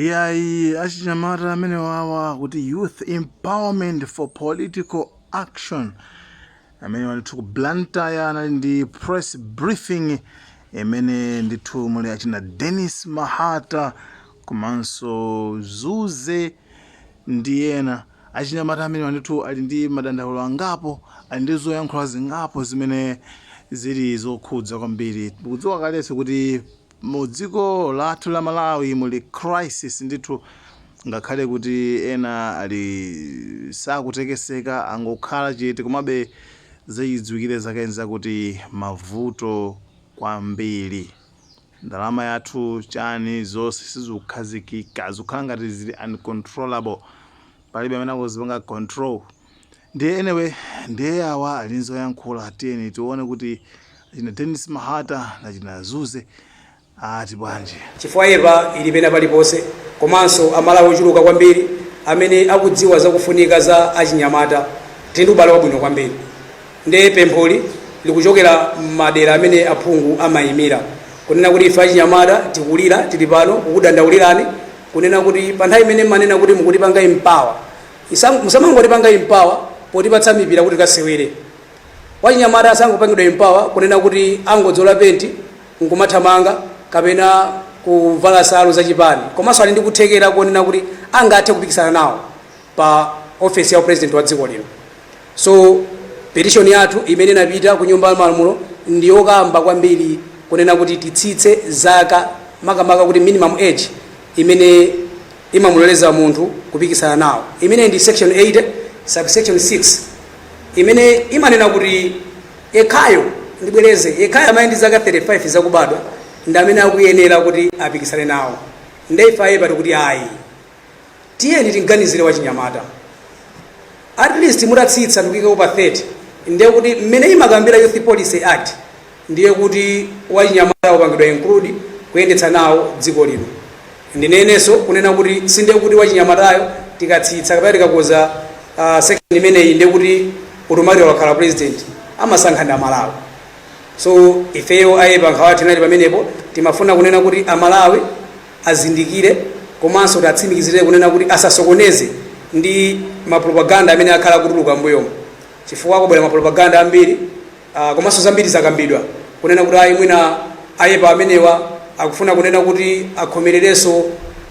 Iyayi achinyamata amenewawa akuti youth empowerment for political action amenewa ndithu ku Blantyre anali ndi press briefing imene ndithu muli achina Dennis Mahata komanso Zuze ndi ena achinyamata amenewa ndithu ali ndi madandaulo angapo ali ndi zoyankhula zingapo zimene zili zokhudza kwambiri tikudziwa kalenso kuti Mu dziko lathu la Malawi muli crisis ndithu ngakhale kuti ena ali sakutekeseka angokhala chete komabe zachidziwikire zake nzakuti mavuto kwambiri. Ndalama yathu chani zonse sizikukhazikika zikukhala ngati zili uncontrollable palibe amene akuzipanga control. Ndiye anyway, ndiye awa ali ndi zoyankhula, tiyeni tione kuti achina Dennis Mahata na achina Zuze ati bwanji. chifukwa YEPA ili pena paliponse komanso amalawi ochuluka kwambiri amene akudziwa zakufunika za achinyamata tili ndi ubale wabwino kwambiri nde pempholi likuchokera m'madera amene aphungu amayimira kunena kuti ife achinyamata tikulira tili pano kukudandaulirani kunena kuti pa nthawi imene mmanena kuti mukutipanga empower Musamangotipanga empower potipatsa mipira kuti tikasewere. Wachinyamata asangopangidwa empower kunena kuti angodzola penti nkumathamanga kapena kuvala nsalu za chipani komanso ali ndi kuthekera konena kuti angathe kupikisana nawo pa ofesi ya upresident wa dziko lino. So petition yathu imene inapita ku nyumba ya malamulo ndi yokamba kwambiri kunena kuti titsitse zaka makamaka kuti minimum age imene imamuloleza munthu kupikisana nawo imene ndi section 80 subsection 6 imene imanena kuti yekhayo ndibwereze yekhayo amene ndi zaka 35 zakubadwa ndi amene akuyenera kuti apikisane nawo nde ife a YEPA tikuti ayi tiyeni timuganizire wachinyamata at least mutatsitsa ndikuyikapo pa 30 ndiye kuti mmene imakambira youth policy act ndiye kuti wachinyamata wapangidwa include kuyendetsa nawo dziko lino ndinenenso kunena kuti sindiye kuti wachinyamatayo tikatsitsa kapena tikakonza uh, section imeneyi ndiye kuti automatically wakhala president amasankha ndi amalawi so ifeyo a YEPA nkhawa yathu inali pamenepo timafuna kunena kuti amalawi azindikire komanso tiwatsimikizire kunena kuti asasokoneze ndi mapropaganda amene akhala akutuluka mbuyomo chifukwa akubwera mapropaganda ambiri Ah, komanso zambiri zakambidwa kunena kuti ayi mwina ayepa amenewa akufuna kunena kuti akhomererenso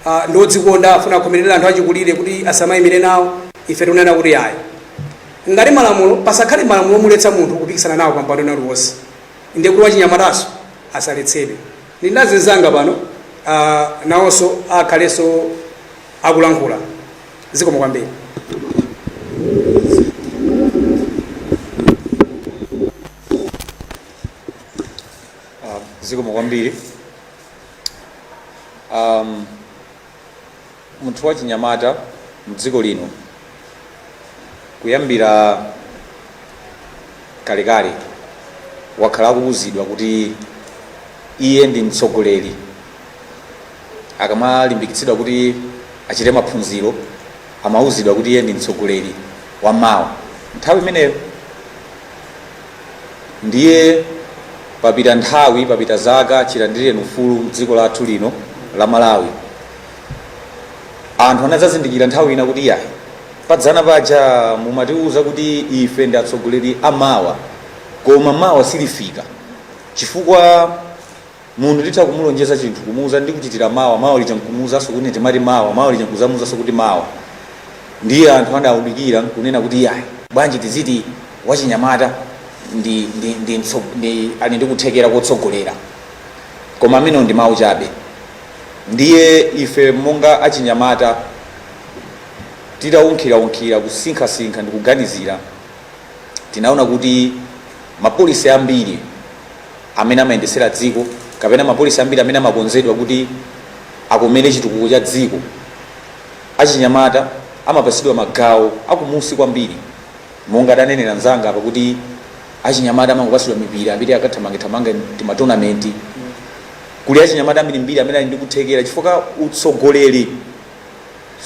ah, ndi odzikonda afuna akhomerere anthu achikulire kuti asamayimire nawo ife tikunena kuti ayi ngati malamulo pasakhale malamulo omuletsa munthu kupikisana nawo pampando ena uliwonse ndiye kuti wachinyamataso asaletsedwe ndili ndi anzanga pano ah, nawonso akhalenso akulankhula zikomo kwambiri Um, zikomo kwambiri um, munthu wachinyamata mdziko lino kuyambira kalekale wakhala akuwuzidwa kuti iye ndi mtsogoleri akamalimbikitsidwa kuti achite maphunziro amauzidwa kuti iye ndi mtsogoleri wa mawa nthawi imeneyo ndiye papita nthawi papita zaka chilandireni ufulu mdziko lathu lino la malawi anthu anadzazindikira nthawi ina kuti yayi padzana paja mumatiuza kuti ife ndi atsogoleri amawa koma mawa silifika chifukwa Munthu titha kumulonjeza chinthu, kumuuza ndikuchitira mawa, mawa lija nkumuuzanso kuti ine timati mawa, mawa lija nkuzamuuzanso kuti mawa. Ndiye anthu adaunikira nkunena kuti iyayi, bwanji tiziti wachinyamata ndi ndi ndi mtso ndi ali ndi kuthekera kotsogolera. Koma amenewo ndi mau chabe. Ndiye ife monga achinyamata titaunkhiraunkhira, kusinkhasinkha ndi kuganizira, tinaona kuti mapolicy ambiri. amene amayendesera dziko kapena mapolisi ambiri amene amakonzedwa kuti akomere chitukuko cha dziko, achinyamata amapatsidwa magawo akumunsi kwambiri. Monga adanenera mnzanga apa kuti achinyamata amangopatsidwa mipira yambiri akathamangethamange timatonamenti. Kuli achinyamata ambirimbiri amene ali ndi kuthekera chifukwa utsogoleri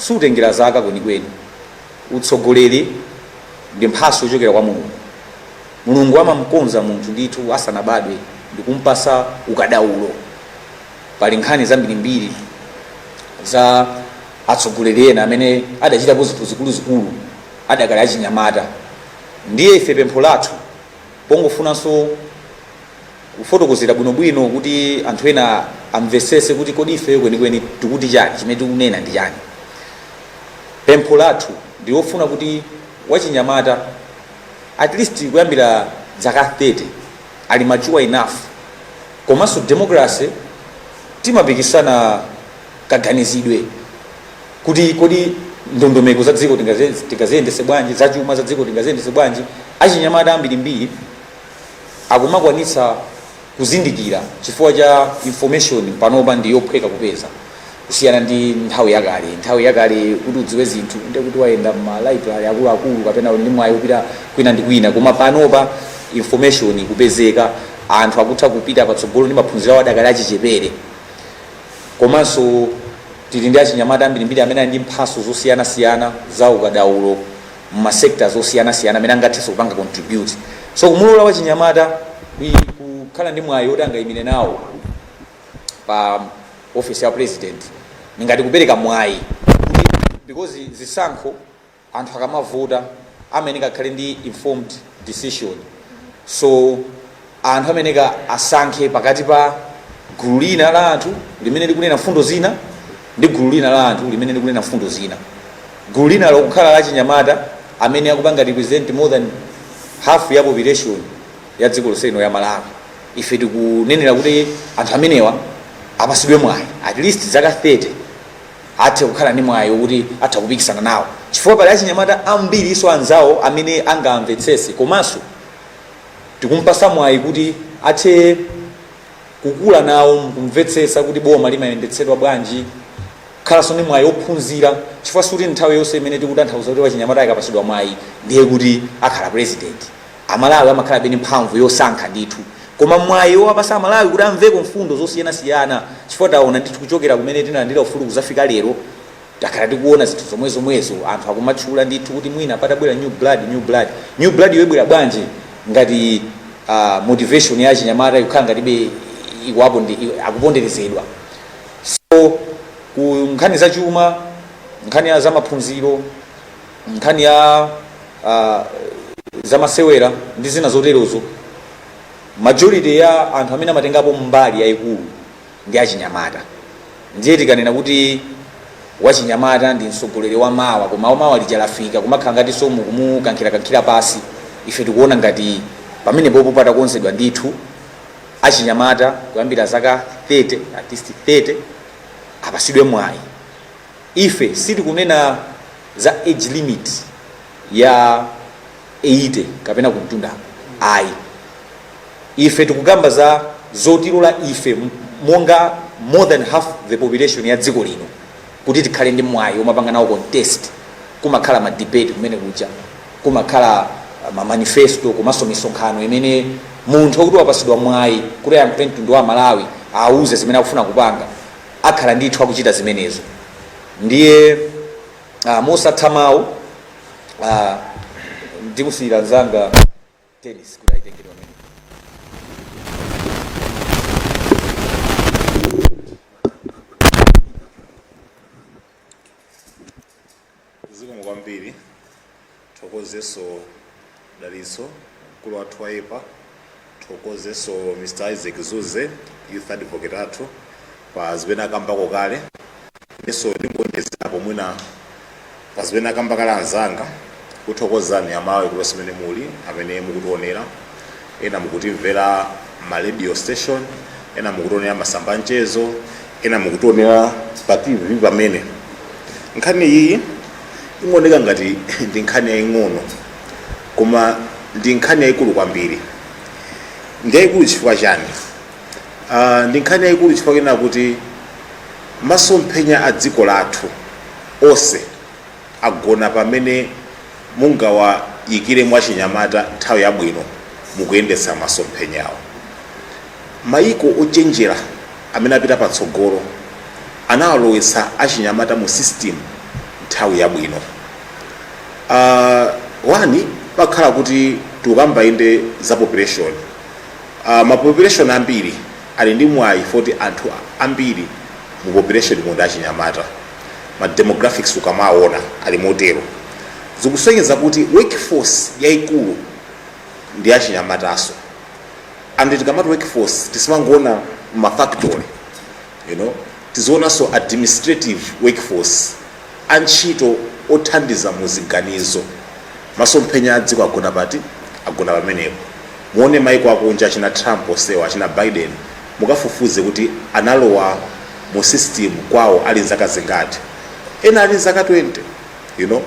sutengera zaka kwenikweni. Utsogoleri ndi mphatso yochokera kwa Mulungu. Mulungu amamukonza munthu ndithu asanabadwe ndikumpasa ukadaulo. Pali nkhani zambirimbiri za atsogoleri ena amene adachitapo zinthu zikuluzikulu adakali achinyamata. Ndiye ife pempho lathu pongofunanso kufotokozera bwinobwino kuti anthu ena amvetsetse kuti kodi ifeyo kwenikweni tikuti chani, chimene tikunena ndi chani. Pempho lathu ndilofuna kuti wachinyamata. at least kuyambira dzaka 30 ali mature enough komanso democracy timapikisana kaganizidwe kuti kodi ndondomeko za dziko tingaze- tingaziyendese bwanji zachuma za dziko tingaziyendese bwanji achinyamata ambirimbiri akumakwanitsa kuzindikira chifukwa cha information panopa ndi yophweka kupeza kusiyana ndi nthawi yakale. Nthawi yakale kuti udziwe zinthu ndiye kuti wayenda mma library akuluakulu kapena uli ndi mwayi wopita kwina ndi kwina, koma panopa information ikupezeka, anthu akutha kupita patsogolo ndi maphunziro awo adakali achichepere. Komanso tili ndi achinyamata ambirimbiri amene ali ndi mphatso zosiyanasiyana za ukadaulo mma sectors osiyanasiyana amene angathenso kupanga contribute. So kumulola wachinyamata kukhala ndi mwayi woti angaimire nawo. pa office ya president ndi ngati kupereka mwayi kuti because zisankho anthu akamavota amayeneka akhale ndi informed decision so anthu amayeneka asankhe pakati pa gulu lina la anthu limene likunena mfundo zina ndi gulu lina la anthu limene likunena mfundo zina gulu lina lokukhala la chinyamata amene akupanga represent more than half ya population ya dziko lonse ino ya malawi ife tikunenera kuti anthu amenewa apasidwe mwayi at least zaka 30 athe kukhala ndi mwayi wokuti atha kupikisana nawo chifukwa pali achinyamata ambiri iso anzawo amene angamvetsese komanso tikumpasa mwayi kuti athe kukula nawo mkumvetsetsa kuti boma limayendetsedwa bwanji kukhalanso ndi mwayi ophunzira chifukwa sikuti nthawi yonse imene tikutanthauza kuti wachinyamata akapasidwa mwayi ndiye kuti akhala president Amalawi amakhalabe ndi mphamvu yosankha ndithu koma mwayi owapasa amalawi kuti amveko mfundo zosiyana siyana chifukwa taona ndithu kuchokera kumene tinalandira ufulu kuzafika lero takhala tikuona zinthu zomwe zomwezo anthu akumatchula ndithu kuti mwina patabwera new blood new blood new blood-yo ibwera bwanji ngati uh, motivation ya achinyamata ikukhala ngatibe ikuwaponde- i- akuponderezedwa so ku nkhani za chuma nkhani ya za maphunziro nkhani ya ah, zamasewera ndi zina zoterozo majority ya anthu amene amatengapo mbali yayikulu ndi achinyamata ndiye tikanena kuti wachinyamata ndi mtsogoleri wa mawa koma mawa lija likafika kumakhala ngati zomukankhirakankhira pasi ife tikuona ngati pamenepopo patakonzedwa ndithu achinyamata kuyambira zaka 30 at least 30 apasidwe mwayi Ife sitikunena za age limit ya 80 kapena kumtunda ayi. Ife tikukamba za zotilola ife monga more than half the population ya dziko lino kuti tikhale ndi mwayi omapanga nawo contest. Kumakhala ma debate kumene kuja, kumakhala ma manifesto komanso misonkhano imene munthu wakuti wapasidwa mwayi kuti ayankhule mtundu wa Amalawi awuze zimene akufuna kupanga. akhala ndithu akuchita zimenezo. Ndiye ah, mosatha mawu ah, ndimusiyira mzanga Denis kuti ayitengere pamene. zikomo kwambiri thokozenso dalitso mkulu wathu wa yepa thokozenso mr isaac zuze youth advocate athu pa zimene akambako kale ndiso ndingowonjezerapo mwina pa zimene akamba kale anzanga kuthokozani amalawi konse mene muli amene mukutionera ena mukutimvera mma radio station, ena mukutionera masamba anchezo, ena mukutionera pa tv pamene. Nkhani iyi imaoneka ngati ndi nkhani yaying'ono koma ndi nkhani yayikulu kwambiri. Ndi yayikulu chifukwa chani? Uh, ndi nkhani yayikulu chifukwa chonena kuti masomphenya a dziko lathu onse agona pamene mungawayikiremo achinyamata nthawi yabwino mukuyendetsa masomphenyawo. Mayiko ochenjera amene apita patsogolo anawalowetsa achinyamata mu sisitimu nthawi yabwino. A, one pakhala kuti tikukamba inde za populeshoni, a, ma populeshoni ambiri ali ndi mwayi woti anthu ambiri mu populeshonimo ndi achinyamata. ma demographics ukamaona ali motero zikusonyeza kuti workforce yaikulu ndi achinyamatanso and tikamati workforce tisimangoona mafactory you know tizionanso administrative workforce antchito othandiza muziganizo masomphenya a dziko agona pati agona pamenepo muone maiko akunja achina trump onsewa achina biden mukafufuze kuti analowa mu system kwawo ali nzaka zingati ena ali nzaka 20 you know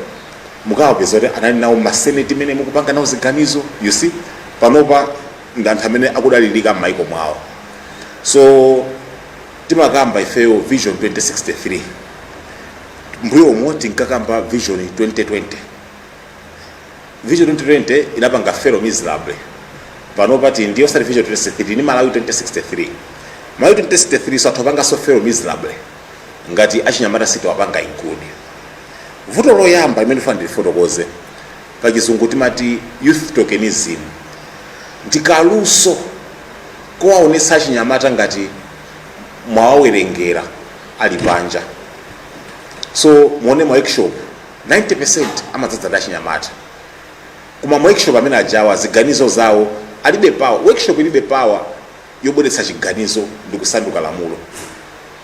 mukawapeza kuti anali nawo maseneti mene akupanga nawo ziganizo you see panopa ndi anthu amene akudalirika m'maiko mwawo so timakamba ifeyo vision 2063 mbuyo umo tinkakamba vision 2020 vision 2020 inapanga fail miserably panopa tili ndi osati vision 2063 tili ndi malawi 2063 malawi 2063 so athu apanganso fail miserably ngati achinyamata sitiwapanga include vuto loyamba limene ndifuna ndilifotokoze pachizungu timati youth tokenism ndi kaluso kowaonetsa achinyamata ngati mwawawerengera ali panja so muone ma workshop 90% amadzadza ndi achinyamata koma ma workshop amene ajawa ziganizo zawo alibe power workshop ilibe power yobweretsa chiganizo ndi kusanduka lamulo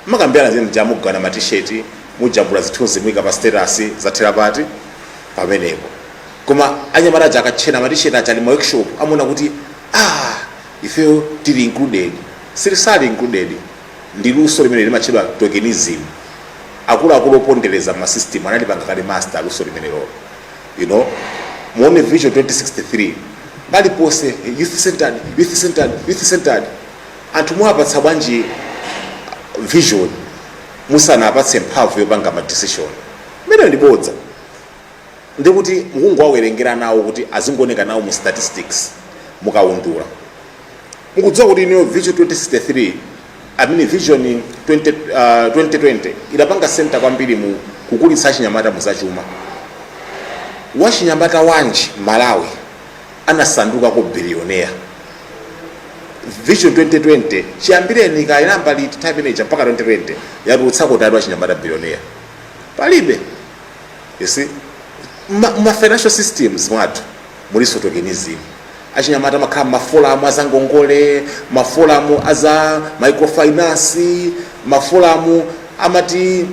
mukambirana zimene zija mugawana ma t-shirt mujambula zithunzi muika pa status zathera pati pamenepo koma anyamata aja akatchena ma t-shirt aja ali ma workshop amaona kuti ah ifeyo tili included sali included Ndi luso limene limatchedwa tokenism. Akuluakulu opondereza ma system analipanga kale master luso limenelolo. You know, muone Vision 2063, paliponse youth-centered, youth-centered, youth-centered. Anthu mwawapatsa bwanji vision musanawapatse mphamvu yopanga ma decision? Limenelo ndi bodza. Ndi kuti mukungowawerengera nawo kuti azingooneka nawo mu statistics, mukaundula. mukudziwa kuti ineyo vision 2063 amene vision 20, uh, 2020 idapanga center kwambiri mu kukulitsa achinyamata muzachuma wachinyamata wanji malawi anasandukako billionaire vision 2020 chiyambireni inayamba liti time manager mpaka 2020 yatulutsako wachinyamata billionaire palibe you see ma, ma financial systems mwathu mulinso tokenism. Achinyamata amakhala m'mafolamu a zangongole, mafolamu a za microfinance, mafolamu amati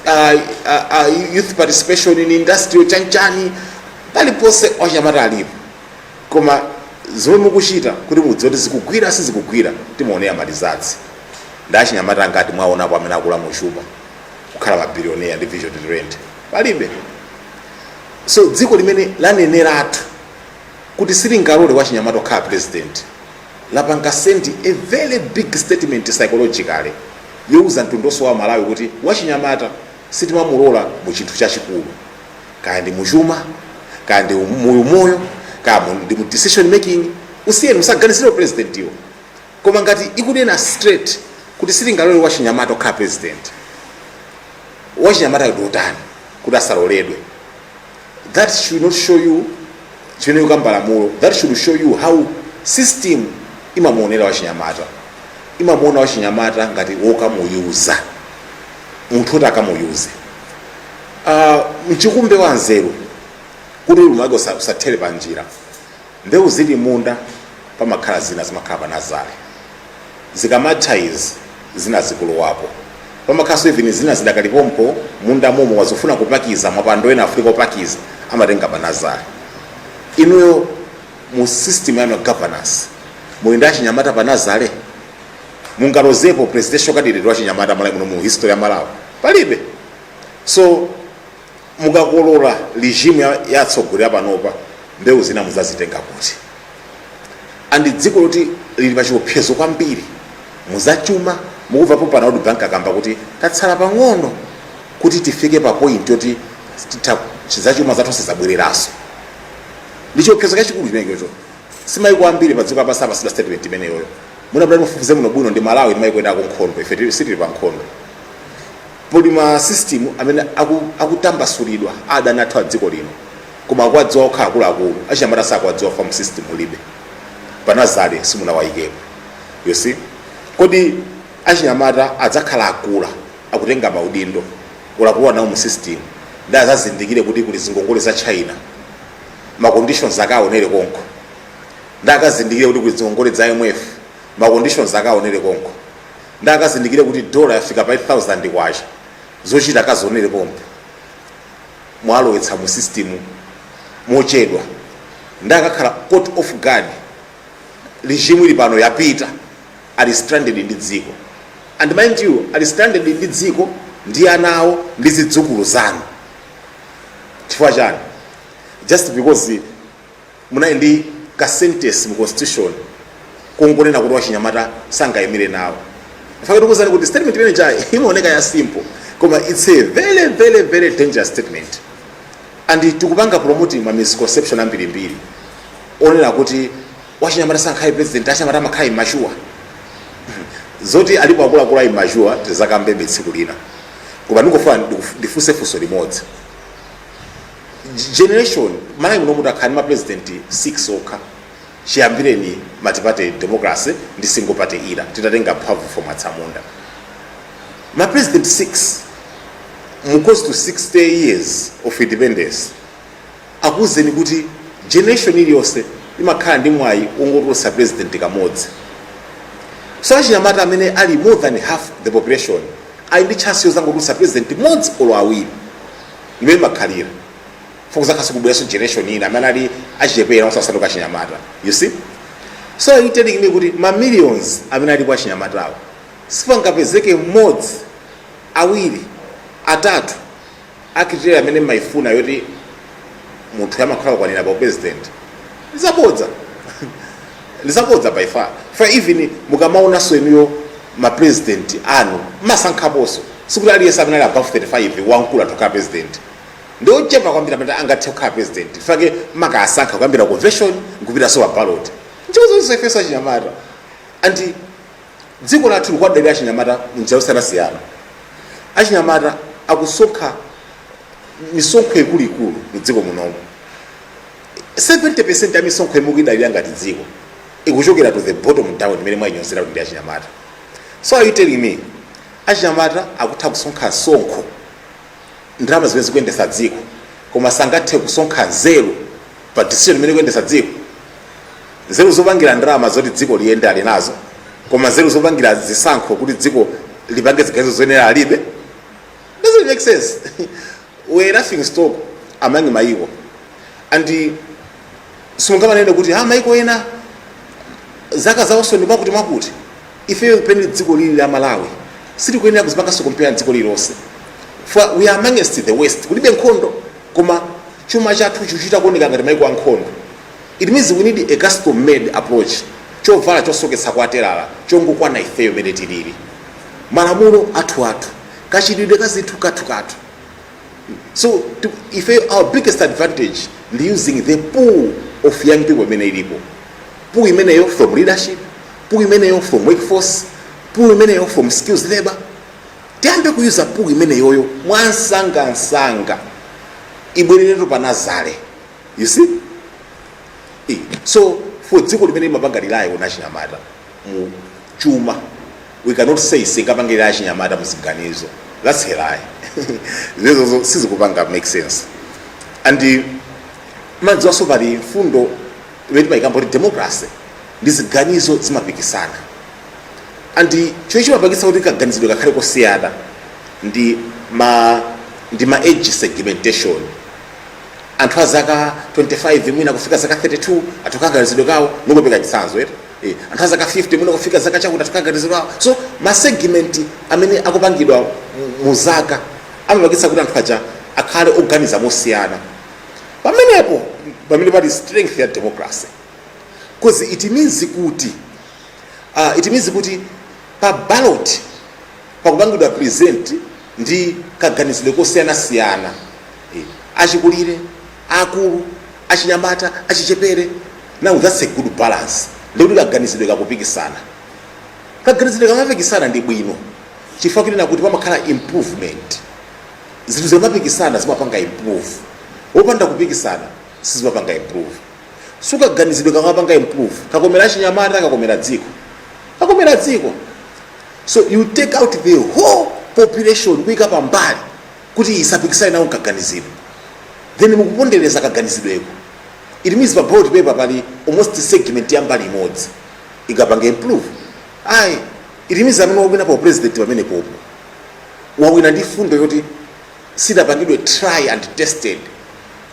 ah, ah, ah, youth participation in industry chanchani, paliponse achinyamata alipo koma zomwe mukuchita kuti mudziwe kuti zikugwira sizikugwira timaonera ma results ndi achinyamata angati mwaonapo amene akula muchuma kukhala mabilioneya ndi vision 2020 palibe so dziko limene laneneratu kuti silingalole wachinyamata kukhala president lapanga send a very big statement psychologically youza mtundu onse wa malawi kuti wachinyamata sitimamulola mu chinthu chachikulu kaya ndi muchuma kaya ndi mu umoyo kaya mu- ndi mu decision making usiyeni musaganizire upresidentiwo Koma ngati ikunena straight kuti silingalole wachinyamata kukhala president, wachinyamatayo ndi otani kuti asaloledwe? That should not show you chimene ikukamba lamulo. That should show you how system imamuonera wachinyamata. Imamuona wachinyamata ngati wokamuyuza, munthu woti akamuyuze. Ah, mchikumbe wa nzeru kuti ulimi wake usa- usathere panjira. Mbewu zili munda pamakhala zina zimakhala pa nazale zikamatha izi zina zikulowapo pamakhalanso even zina zidakali pompo munda momo wazifuna kupakiza mapando ena afunika kupakiza amatenga pa nazale inuyo mu system yanu ya governance muli ndi achinyamata pa nazale mungalozepo presidential candidate wachinyamata malawi muno mu history ya malawi palibe so mukakolola regime ya, ya atsogoleri apanopa mbewu zina muzazitenga kuti and ndi dziko loti lili pa chiopsezo kwambiri muzachuma mukumva pompano kuti bank akamba kuti tatsala pang'ono kuti tifike pa point yoti titha zachuma zathu sizabwereranso ndi chiopsezo chachikulu chimenecho simaiko ambiri pa dziko lapansi apasidwa statement imeneyoyo munapita mufufuze muone bwino ndi malawi ndi maiko ena akunkhondo ife tili- sitili pa nkhondo Pali ma system amene aku, akutambasulidwa a adani athu a dziko lino koma akuwadziwa okha akuluakulu achinyamata sakuwadziwa chifukwa mu system mulibe panazale simunawayikepo you see kodi achinyamata adzakhala akula akutenga maudindo olo akulowa nawo mu system nde azazindikire kuti kuli zingongole za china ma conditions akaonere konko nde akazindikire kuti kuli zingongole za imf ma conditions akaonere konko nde akazindikire kuti dollar yafika pa 8000 kwacha zochita akazionere pompo mwalowetsa mu system mochedwa nde akakhala caught off guard regime ili pano yapita ali stranded ndi dziko and mind you ali stranded ndi dziko ndi ana awo ndi zidzukulu zanu chifukwa chani just because munali ndi ka sentence mu constitution kongonena kuti wachinyamata sangayimire nawo faka tikuuzani kuti statement imene ija imaoneka ya simple koma it's a very very very dangerous statement and tikupanga promoting ma misconception ambirimbiri onena kuti wachinyamata sangakhale president achinyamata amakhala immature zoti alipo akuluakulu a immature tizakambebe tsiku lina koma ndingofuna ndifunse funso limodzi generation malawi muno muti akhala ndi mapresident 6 okha chiyambireni multiparty democracy ndi single party era titatenga mphamvu from atsamunda mapresident 6 mu close to 60 years of independence zikuwuzeni kuti generation iliyonse imakhala ndi mwayi wongotulutsa president kamodzi so achinyamata amene ali more than half the population ali ndi chance yozangotulutsa president modzi olo awiri imene imakhalira before kuzakhalaso kubweranso generation ina amene ali achichepera asasanduka achinyamata you see so are you telling me kuti ma millions amene alipo achinyamatawo sipangapezeke mmodzi awiri atatu a criteria imene mmayifuna yoti munthu yomakhala kukwanira pa upresident nzabodza ndizabodza by far fa even mukamaonanso inuyo ma president anu masankhaponso sikuti aliyense amene ali above 35 wankulu atha kukhala president ndi ochepa kwambiri amene angathe kukhala president nchifukwa chake mumakasankha kuyambira convention nkupitaso pa ballot ntchito zonse ifeso achinyamata and dziko lathu likuwadalira achinyamata munjira yosiyanasiyana achinyamata akusonkha misonkho ikuluikulu mu dziko munomo 70% ya misonkho imene mukuidalira ngati dziko ikuchokera to the bottom down imene mumayinyozera kuti ndi achinyamata so are you telling me achinyamata akutha kusonkha msonkho ndalama zimene zikuyendesa dziko koma sangathe kusonkha nzeru pa decision imene ikuyendesa dziko nzeru zopangira ndalama zoti dziko liyende ali nazo koma nzeru zopangira zisankho kuti dziko lipange ziganizo zoyenera alibe doesn't make sense we're a laughing stock among maiko and simungamanene kuti ha maiko ena zaka zawonso ndi zakuti zakuti ifeyo pene dziko lili la malawi sitikuyenera kuzipanganso compare dziko lilonse for we are amongst the worst kulibe nkhondo koma chuma chathu chikuchita kuoneka ngati maiko ankhondo it means we need a custom made approach chovala chosoketsa kwa telala chongokwana ifeyo mene tilili malamulo athu athu kachitidwe ka zinthu kathu kathu so if our biggest advantage ndi using the pool of young people imene ilipo pool imeneyo from leadership pool imeneyo from workforce pool imeneyo from skills labor tiyambe ku user pool imeneyoyo mwansangansanga ibwereretu pa nazale you see Eh, so for dziko limene limapanga rely on achinyamata mu chuma we cannot say sitingapangire achinyamata muziganizo that's a lie izozo sizikupanga make sense and eh, mukudziwanso pali mfundo imene timayikamba kuti democracy ndi ziganizo zimapikisana and chomwe chimapangitsa kuti kaganizidwe kakhale kosiyana ndi ma ndi ma age segmentation anthu a zaka 25 mwina kufika zaka 32 ali ndi kaganizidwe kawo ndikupereka chitsanzo eti eh, anthu azaka 50 mwina kufika zaka chakuti ali ndi kaganizidwe so ma segment amene akupangidwa mu- mu zaka amapangitsa kuti anthu aja akhale oganiza mosiyana pamenepo mpamene pali strength ya democracy because it means kuti uh, it means kuti pa ballot pakupangidwa present ndi kaganizidwe kosiyanasiyana achikulire, aakulu, achinyamata, achichepere. Now that's a good balance ndikuti kaganizidwe kakupikisana. Kaganizidwe kakamapikisana ndi bwino chifukwa kunena kuti pamakhala improvement. Zinthu zikamapikisana zimapanga improve, popanda kupikisana sizimapanga improve. So kaganizidwe kakamapanga improve kakomera achinyamata, kakomera dziko, kakomera dziko. So you take out the whole population kuika pambali kuti isapikisane nawo mkaganizidwe then mukupondereza kaganizidweko it means pa ballot paper pali almost segment ya mbali imodzi ikapanga improve ayi it means amene wawina u president pamenepopo wawina ndi fundo yoti sidapangidwe try and tested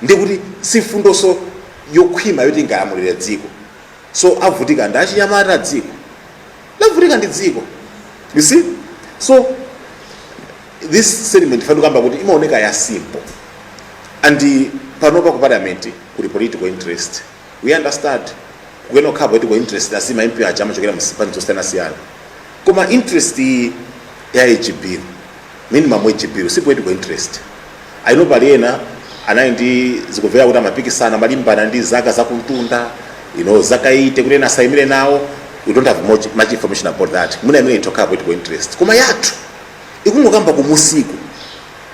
ndikuti si fundonso yokhwima yoti ingalamulire dziko so avutika ndi achinyamata dziko lavutika ndi dziko you see so this sentiment ndimafuna kukamba kuti imaoneka ya simple and panopa ku parliament kuli political interest we understand kuyenera kukhala political interest as ma MP aja amachokera mu zipani zosiyanasiyana koma interest iyi ya hb Minimum age bill si political interest. I know pali ena anali ndi zikumveka kuti amapikisana amalimbana ndi zaka zakumtunda you know zaka 80 kuti ena asayimire nawo we don't have much, much information about that mwina imene itokhala political interest koma yathu ikungokamba kumunsiku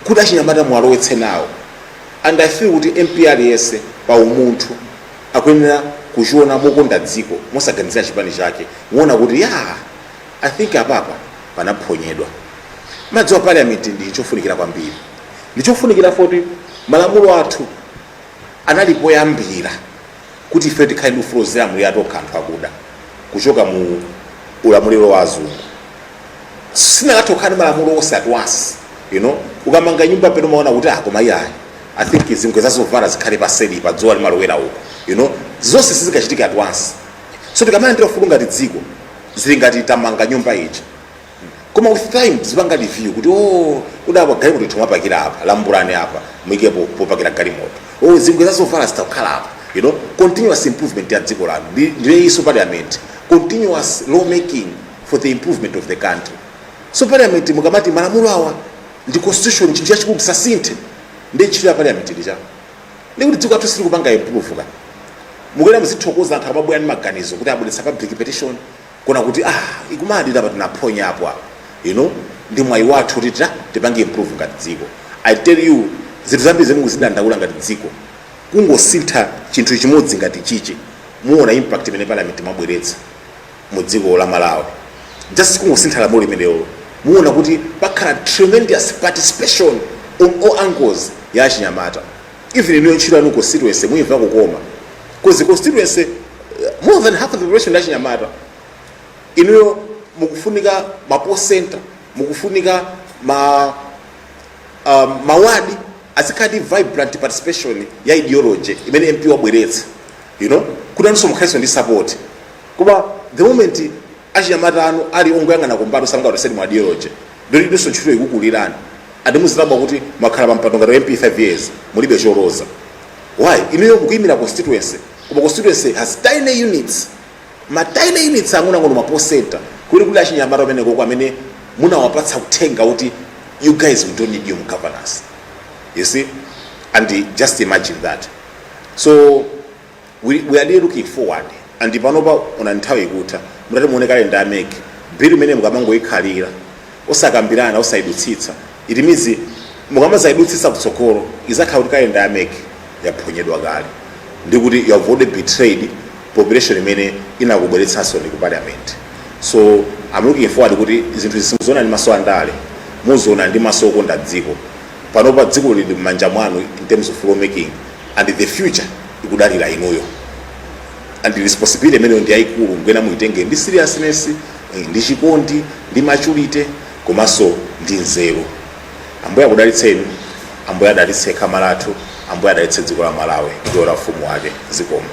kuti achinyamata muwalowetse nawo and i feel kuti mp aliyense pa umunthu akuyenera kuchiona mokonda dziko mosaganizira chipani chake muona kuti ya I think apapa panaphonyedwa. Mudziwa parliament ndi chofunikira kwambiri. Ndi chofunikira poti malamulo athu anali poyambira kuti ifeyo tikhale ndi ufulu ozilamulira tokha anthu akuda kuchoka mu ulamuliro wa azungu. Sinakatha kukhala ndi malamulo onse at once. You know, ukamanga nyumba pena umaona kuti ah koma iyayi. I think zingwe zazovala zikhale paseli pa dzuwa limalowera uko. You know, zonse sizikachitika at once. So tikamalandira ufulu ngati dziko zili ngati tamanga nyumba ija koma with time zipanga review kuti o kudapa galimoto itha kumapakira apa lambulani apa muike po- popakira galimoto o zingwe zazovala zitakhala apa you know continuous improvement ya dziko lanu Ndi- ndiye so parliament continuous law making for the improvement of the country so parliament mukamati malamulo awa ndi constitution chinthu chachikulu tisasinthe ndi ntchito ya parliament ija ndi kuti dziko lathu silikupanga improve ka mukuyenera muzithokoza anthu akamabwera ndi maganizo kuti abweretsa public petition kuona kuti ah komadi apa tinaphonya apo apo you know ndi mwayi wathu kuti tita tipange improve ngati dziko i tell you zinthu zambiri zimene mukuzidandaula ngati dziko kungosintha chinthu chimodzi ngati chichi muona impact imene parliament imabweretsa mu dziko la malawi just kungosintha lamulo limenelo muona kuti pakhala tremendous participation on all angles ya achinyamata even inuyo ntchito yanu constituency muyimva kukoma because constituency eh, more than half of the population ya achinyamata inuyo mukufunika ma poll center mukufunika ma um, mawadi azikhala vibrant participation ya ideology imene mp wabweretsa you know kuti nanunso mukhalenso ndi support koma the moment achinyamata anu ali ongoyang'ana kumbali sangaoneseni mu ideology ndiye inunso ntchito ikukulirani and muzidabwa kuti mwakhala pampando ngati mp 5 years mulibe choloza why inuyo mukuyimira constituency koma constituency has tiny units ma tiny units ang'onoang'ono ma poll center kuli kuli achinyamata kumenekoko amene munawapatsa uthenga kuti you guys we don't need you in governance you see and just imagine that so we, we are really looking forward and panopa ona nthawi ikutha mutati muone calendar ya MEC bill imene mukamangoyikhalira osakambirana osayidutsitsa it means mukamazaidutsitsa kutsogolo izakhala kuti calendar ya MEC yaphonyedwa kale ndi kuti you have already betrayed population imene inakubweretsansoni ku parliament so i'm looking forward kuti zinthu izi simuziona ndi maso andale muziona ndi maso okonda dziko panopa dziko lili m'manja mwanu in terms of lawmaking and the future ikudalira inuyo and responsibility imeneyo ndi yayikulu ngwena muitenge ndi seriousness eh, ndi chikondi ndi maturity komanso ndi nzeru ambuye akudalitseni ambuye adalitse khama lathu ambuye adalitse dziko la malawi ndi wolowa ufumu wake zikomo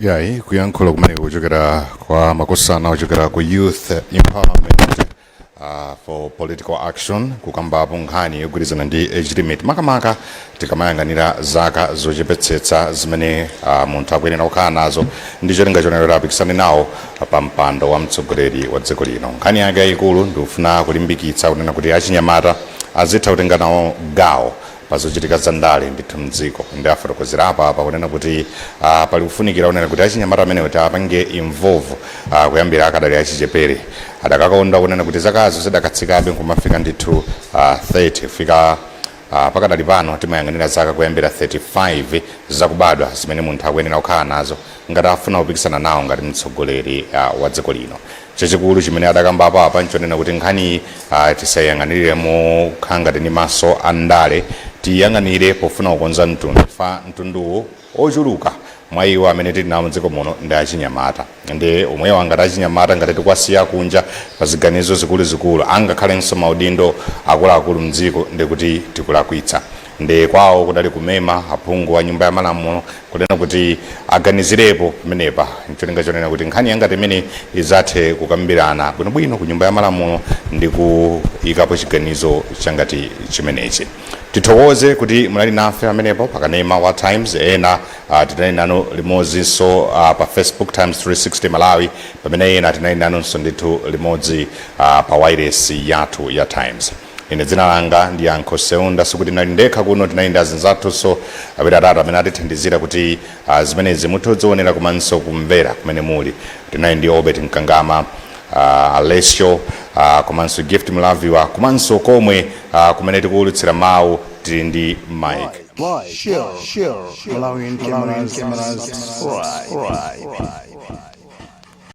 yayi kuyankhula kumene kuchokera kwa makosana ochokera ku youth empowerment uh, for political action kukambapo nkhani yogwirizana ndi age limit makamaka tikamayang'anira zaka zochepetsetsa zimene uh, munthu akuyenera kukhala nazo ndi cholinga chonena apikisane nawo pa mpando wa mtsogoleri wa dziko lino nkhani yake yayikulu ndikufuna kulimbikitsa kunena kuti achinyamata azitha kutenga nawo gawo pazochitika za ndale ndithu mdziko ndi afotokozera apa apa kunena kuti uh, pali kufunikira kunena kuti achinyamata amenewo atiapange involve uh, kuyambira akadali achichepere adakakonda kunena kuti zakazo zidakatsikabe nkumafika ndithu uh, 30 kufika Uh, pakadali pano timayang'anira zaka kuyambira 35 zakubadwa zimene munthu akuyenera kukhala nazo ngati afuna kupikisana nawo ngati mtsogoleri uh, wa dziko lino Chachikulu chimene adakambapo apa nchonena kuti nkhaniyi tisayang'anire mokhala ngati ndi maso a ndale, tiiyang'anire pofuna kukonza mtundu chifukwa mtunduwo ochuluka mwa iwo amene tili nawo mdziko muno ndi achinyamata ndiye omwewa ngati achinyamata ngati tikuwasiya kunja pa ziganizo zikuluzikulu angakhalenso maudindo akuluakulu mdziko ndekuti tikulakwitsa. Nde kwawo kudali kumema aphungu a nyumba ya malamulo kunena kuti aganizirepo pamenepa ncholinga chonena kuti nkhani yangati imeneyi izathe kukambirana bwinobwino ku nyumba ya malamulo ndi kuyikapo chiganizo changati chimenechi. Tithokoze kuti munali nafe pamenepo pa kanema wa Times ena ah, tinali nanu limodzinso ah, pa Facebook Times 360 Malawi pamene ena tinali nanunso ndithu limodzi ah, pa wailesi yathu ya Times. Ine dzina langa ndi Yankho Seunda, sikuti nali ndekha kuno tinali ndi azinzathunso awiri atatu amene atithandizira kuti ah, zimenezi muthe kudzionera komanso kumvera kumene muli. Tinali ndi Obert Mkangama, ah, Alessio ah, komanso Gift Mlaviwa komanso komwe ah, kumene tikuwulutsira mawu tili ndi Mike.